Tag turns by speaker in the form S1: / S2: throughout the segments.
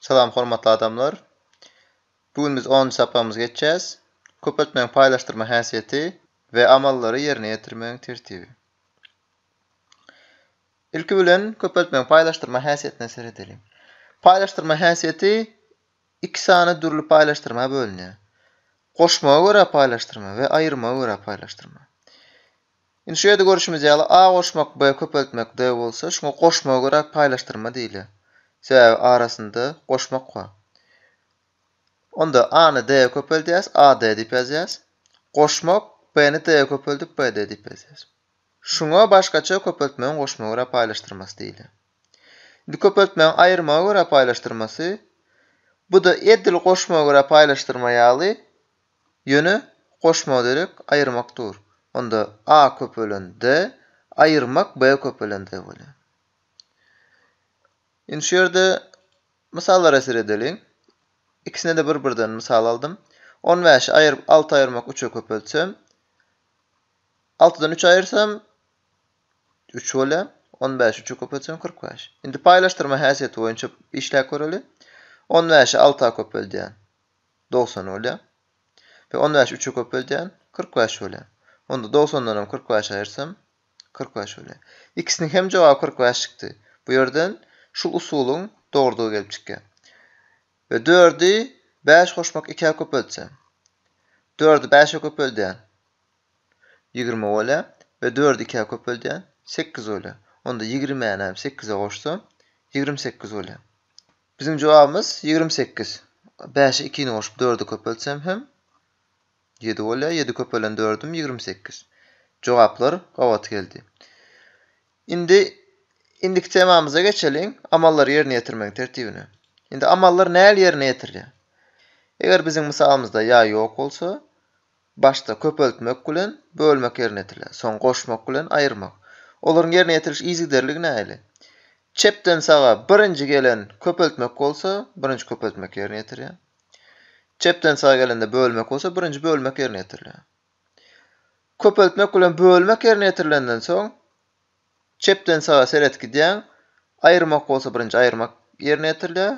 S1: Salam hormatly adamlar. Bu gün biz onunjy sapagymyzy geçýäs. Köpeltmegiň paýlaşdyrma häsiýeti we amallary ýerine ýetirmegiň tertibi. Ilki bilen köpeltmegiň paýlaşdyrma häsiýetine seredeliň. Paýlaşdyrma häsiýeti iki sany dürli paýlaşdyrma bölünýär. Goşmaga görä paýlaşdyrma we aýyrmaga görä paýlaşdyrma. Indi şu ýerde görşümiz ýaly, a goşmak, b köpeltmek, d bolsa, şuňa goşmaga görä paýlaşdyrma diýilýär. Sebäbi arasynda goşmak bar. Onda a-ny d-e köpeldýäs, ad diýip ýazýas. Goşmak, b-ni d-e köpeldip, bd diýip ýazýas. Şuňa başgaça köpeltmegiň goşmaga görä paýlaşdyrmasy diýilýär. Indi köpeltmegiň aýyrmaga görä paýlaşdyrmasy, bu-da edil goşmaga görä paýlaşdyrma ýaly, Ýöne goşmagy derek aýyrmak dur. Onda a köpelen d, aýyrmak b köpelen d bolýar. Indi şu ýerde mysallara seredeliň. Ikisine-de bir-birden mysal aldym. On bäşi aýyryp alty aýyrmak üçe köpeltsem, altydan üç aýyrsam, üç bolýar. On bäşi üçe köpeltsem, kyrk bäş. Indi paýlaşdyrma häsiýeti boýunça işläp göreli. On bäşi alta köpeldýän. Dogsan bolýar. Peki on bäşi üçe köpeldýän? Kyrk bäş bolýar. Onda dogsandan hem kyrk bäşi aýyrsam, kyrk bäş bolýar. Ikisiniň hem jogaby kyrk bäş çykdy. Bu ýerden şul usulyň dogrudygy gelip çykýar. We dördi bäş goşmak ikä köpeltsem? Dördi bäşe köpeldýän? Ýigrimi bolýar. We dördi ikä köpeldýän? Sekiz bolýar. Onda ýigrimini hem sekize goşsam, ýigrimi sekiz bolýar. Biziň jogabymyz ýigrimi sekiz. Bäşi ikini goşup dördi köpeltsem hem ýedi bolýar. Ýedi köpelen dördüm ýigrimi sekiz. Jogaplar gabat geldi. Indi indiki temamyza geçeliň, amallary ýerine ýetirmegiň tertibine. Indi amallar näl ýerine ýetirilýär? Eger biziň mysalymyzda ýa ýok bolsa, Başda köpeltmek bilen bölmek ýerine ýetiriler, soň goşmak bilen aýyrmak. Olaryň ýerine ýetiriliş yzygiderligi nähili? Çepden saga birinji gelen köpeltmek bolsa, birinji köpeltmek ýerine ýetirýär. Çepden saga gelende bölmek bolsa, birinji bölmek ýerine ýetirilýär. Köpeltmek bilen bölmek ýerine ýetirilenden soň, çepden saga seret gidýäň, aýyrmak bolsa birinji aýyrmak ýerine ýetirilýär,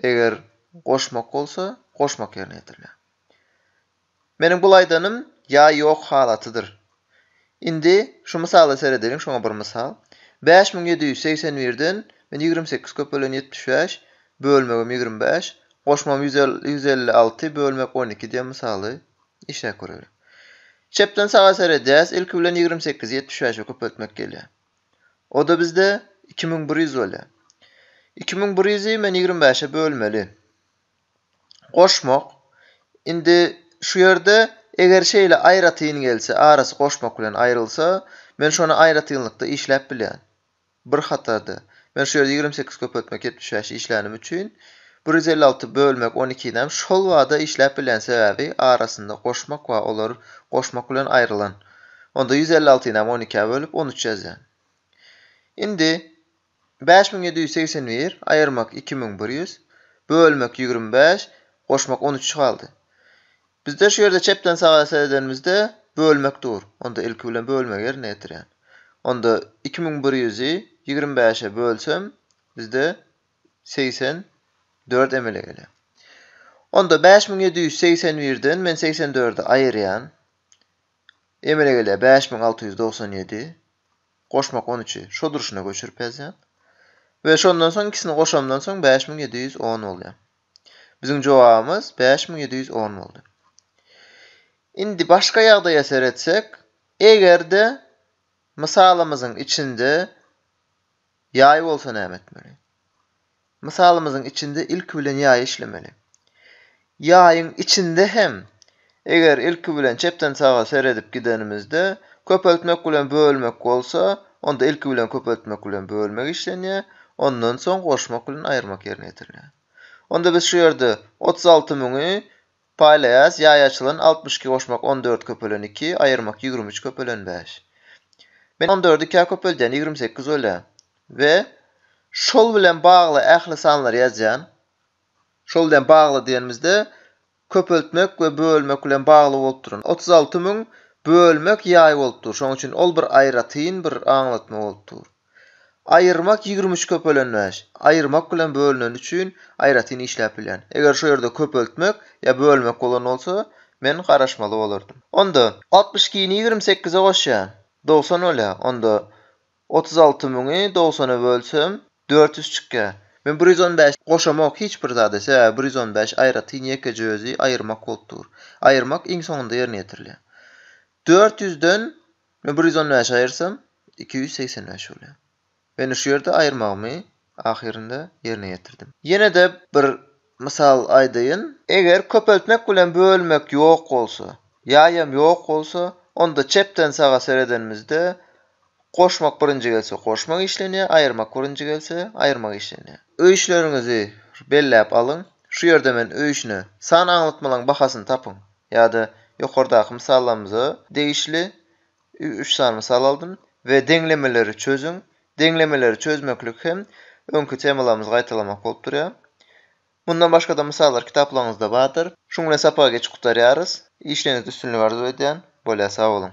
S1: Eger goşmak bolsa, goşmak ýerine ýetirilýär. Meniň bul aýdanym ýa ýok halatydyr. Indi şu mysala seredeliň, şoňa bir mysal. Bäş müň ýedi ýüz segsen birden men ýigrimi sekiz köpelen ýetmiş bäş, bölmegim ýigrimi bäş, goşmam ýüz ýüz elli alty bölmek on iki diýen mysaly işläp göreliň. Çepden saga seredýäs, ilki bilen ýigrimi sekizi ýetmiş bäşe köpeltmek gelýär. O-da bizde iki müň bir ýüz bolýar. Iki müň bir ýüzi men ýigrimi bäşe bölmeli. Goşmak, indi şu ýerde eger şeýle aýratyn gelse, arasy goşmak bilen aýrylsa, men şony aýratynlykda işläp bilýän. Bir hatarda. Men şu ýerde ýigrimi sekiz köpeltmek ýetmiş bäş işlänim üçin, bir ýüz elli alty bölmek on ikinem şol bada işläp bilýän sebäbi arasynda goşmak bar, olar goşmak bilen aýrylan. Onda ýüz elli altyny hem on ikä bölüp, on üç ýazýan. Indi, bäş müň ýedi ýüz segsen bir aýyrmak iki müň bir ýüz, bölmek ýigrimi bäş, goşmak on üç galdy. Bizde şu ýerde çepden saga seredenimizde, bölmek dur. Onda ilki bilen bölmegi ýerine ýetirýän. Onda, iki müň bir ýüzi ýigrimi bäşe bölsem, bizde segsen dört emele gelýär. Onda, bäş müň ýedi ýüz segsen birden men segsen dördi aýyrýan. Emele gelýär, bäş müň alty ýüz dogsan ýedi, goşmak on üçi şo durşuna göçürip ýazýan. We şondan soň ikisini goşamdan soň bäş müň ýedi ýüz on bolýar. Biziň jogabymyz bäş müň ýedi ýüz on boldy. Indi başga ýagdaýa seretsek, eger-de mysalymyzyň içinde Ýaý bolsa näme etmeli? Mysalymyzyň içinde ilki bilen ýaýy işlemeli. Ýaýyň içinde hem, eger ilki bilen çepden saga seredip gidenimizde, köpeltmek bilen bölmek bolsa, onda ilki bilen köpeltmek bilen bölmek işlenýär, ondan soň goşmak bilen aýyrmak ýerine ýetirilýär. Onda biz şu ýerde otuz alty müňi Paýlaýas, Ýaý açylan, altmyş iki goşmak on dört köpelen iki, aýyrmak ýigrimi üç köpelen bäş. Men on dördi ikä köpeldýän, ýigrimi sekiz bolýar. We şol bilen bagly ähli sanlary ýazýan. Şol bilen bagly diýenimizde, köpeltmek we bölmek bilen bagly bolup duran. Otuz alty müň bölmek ýaý bolup dur. Şonuň üçin ol bir aýratyn bir aňlatma bolup dur. Aýyrmak ýigrimi üç köpelen bäş. Aýyrmak bilen bölüneni üçin aýratyn işläp bilýän. Eger şu ýerde köpeltmek ýa bölmek bolan bolsa, men garaşmaly bolardym. Onda, altmyş ikini ýigrimi sekize goşýan, dogsan bolýar. Onda, otuz alty müňi dogsana bölsem, dört ýüz çykýar. Men bir ýüz on bäş goşamok hiç bir zada, sebäbi bir ýüz on bäş aýratyn ýekeje özi aýyrmak bolup dur. Aýyrmak iň soňunda ýerine ýetirilýär. Dört ýüzden Ine bir ýüz on bäşe aýyrsam, iki ýüz segsen bäş bolýar. Ine şu ýerde aýyrmagymy ahyrynda ýerine ýetirdim. Ýene-de bir mysal aýdaýyn. Eger köpeltmek bilen bölmek ýok bolsa, ýaýam ýok bolsa, onda çepden saga seredenimizde goşmak birinji gelse goşmak işlenýär, aýyrmak birinji gelse aýyrmak işlenýär. Öýüşleriňizi belläp alyň. Şu ýerde men öýüşine san aňlatmalaryň bahasyny tapyň. Ýa-da ýokardaky mysallarymyza degişli üç sany mysal aldym. We deňlemeleri çözüň. Deňlemeleri çözmeklik hem öňki temalarymyzy gaýtalamak bolup durýar. Mundan başga-da mysallar kitaplaryňyzda bardyr. Şuň bilen sapagy geçip gutarýarys. Işleriňizde üstünlik arzuw edýän. Bolýa sag boluň.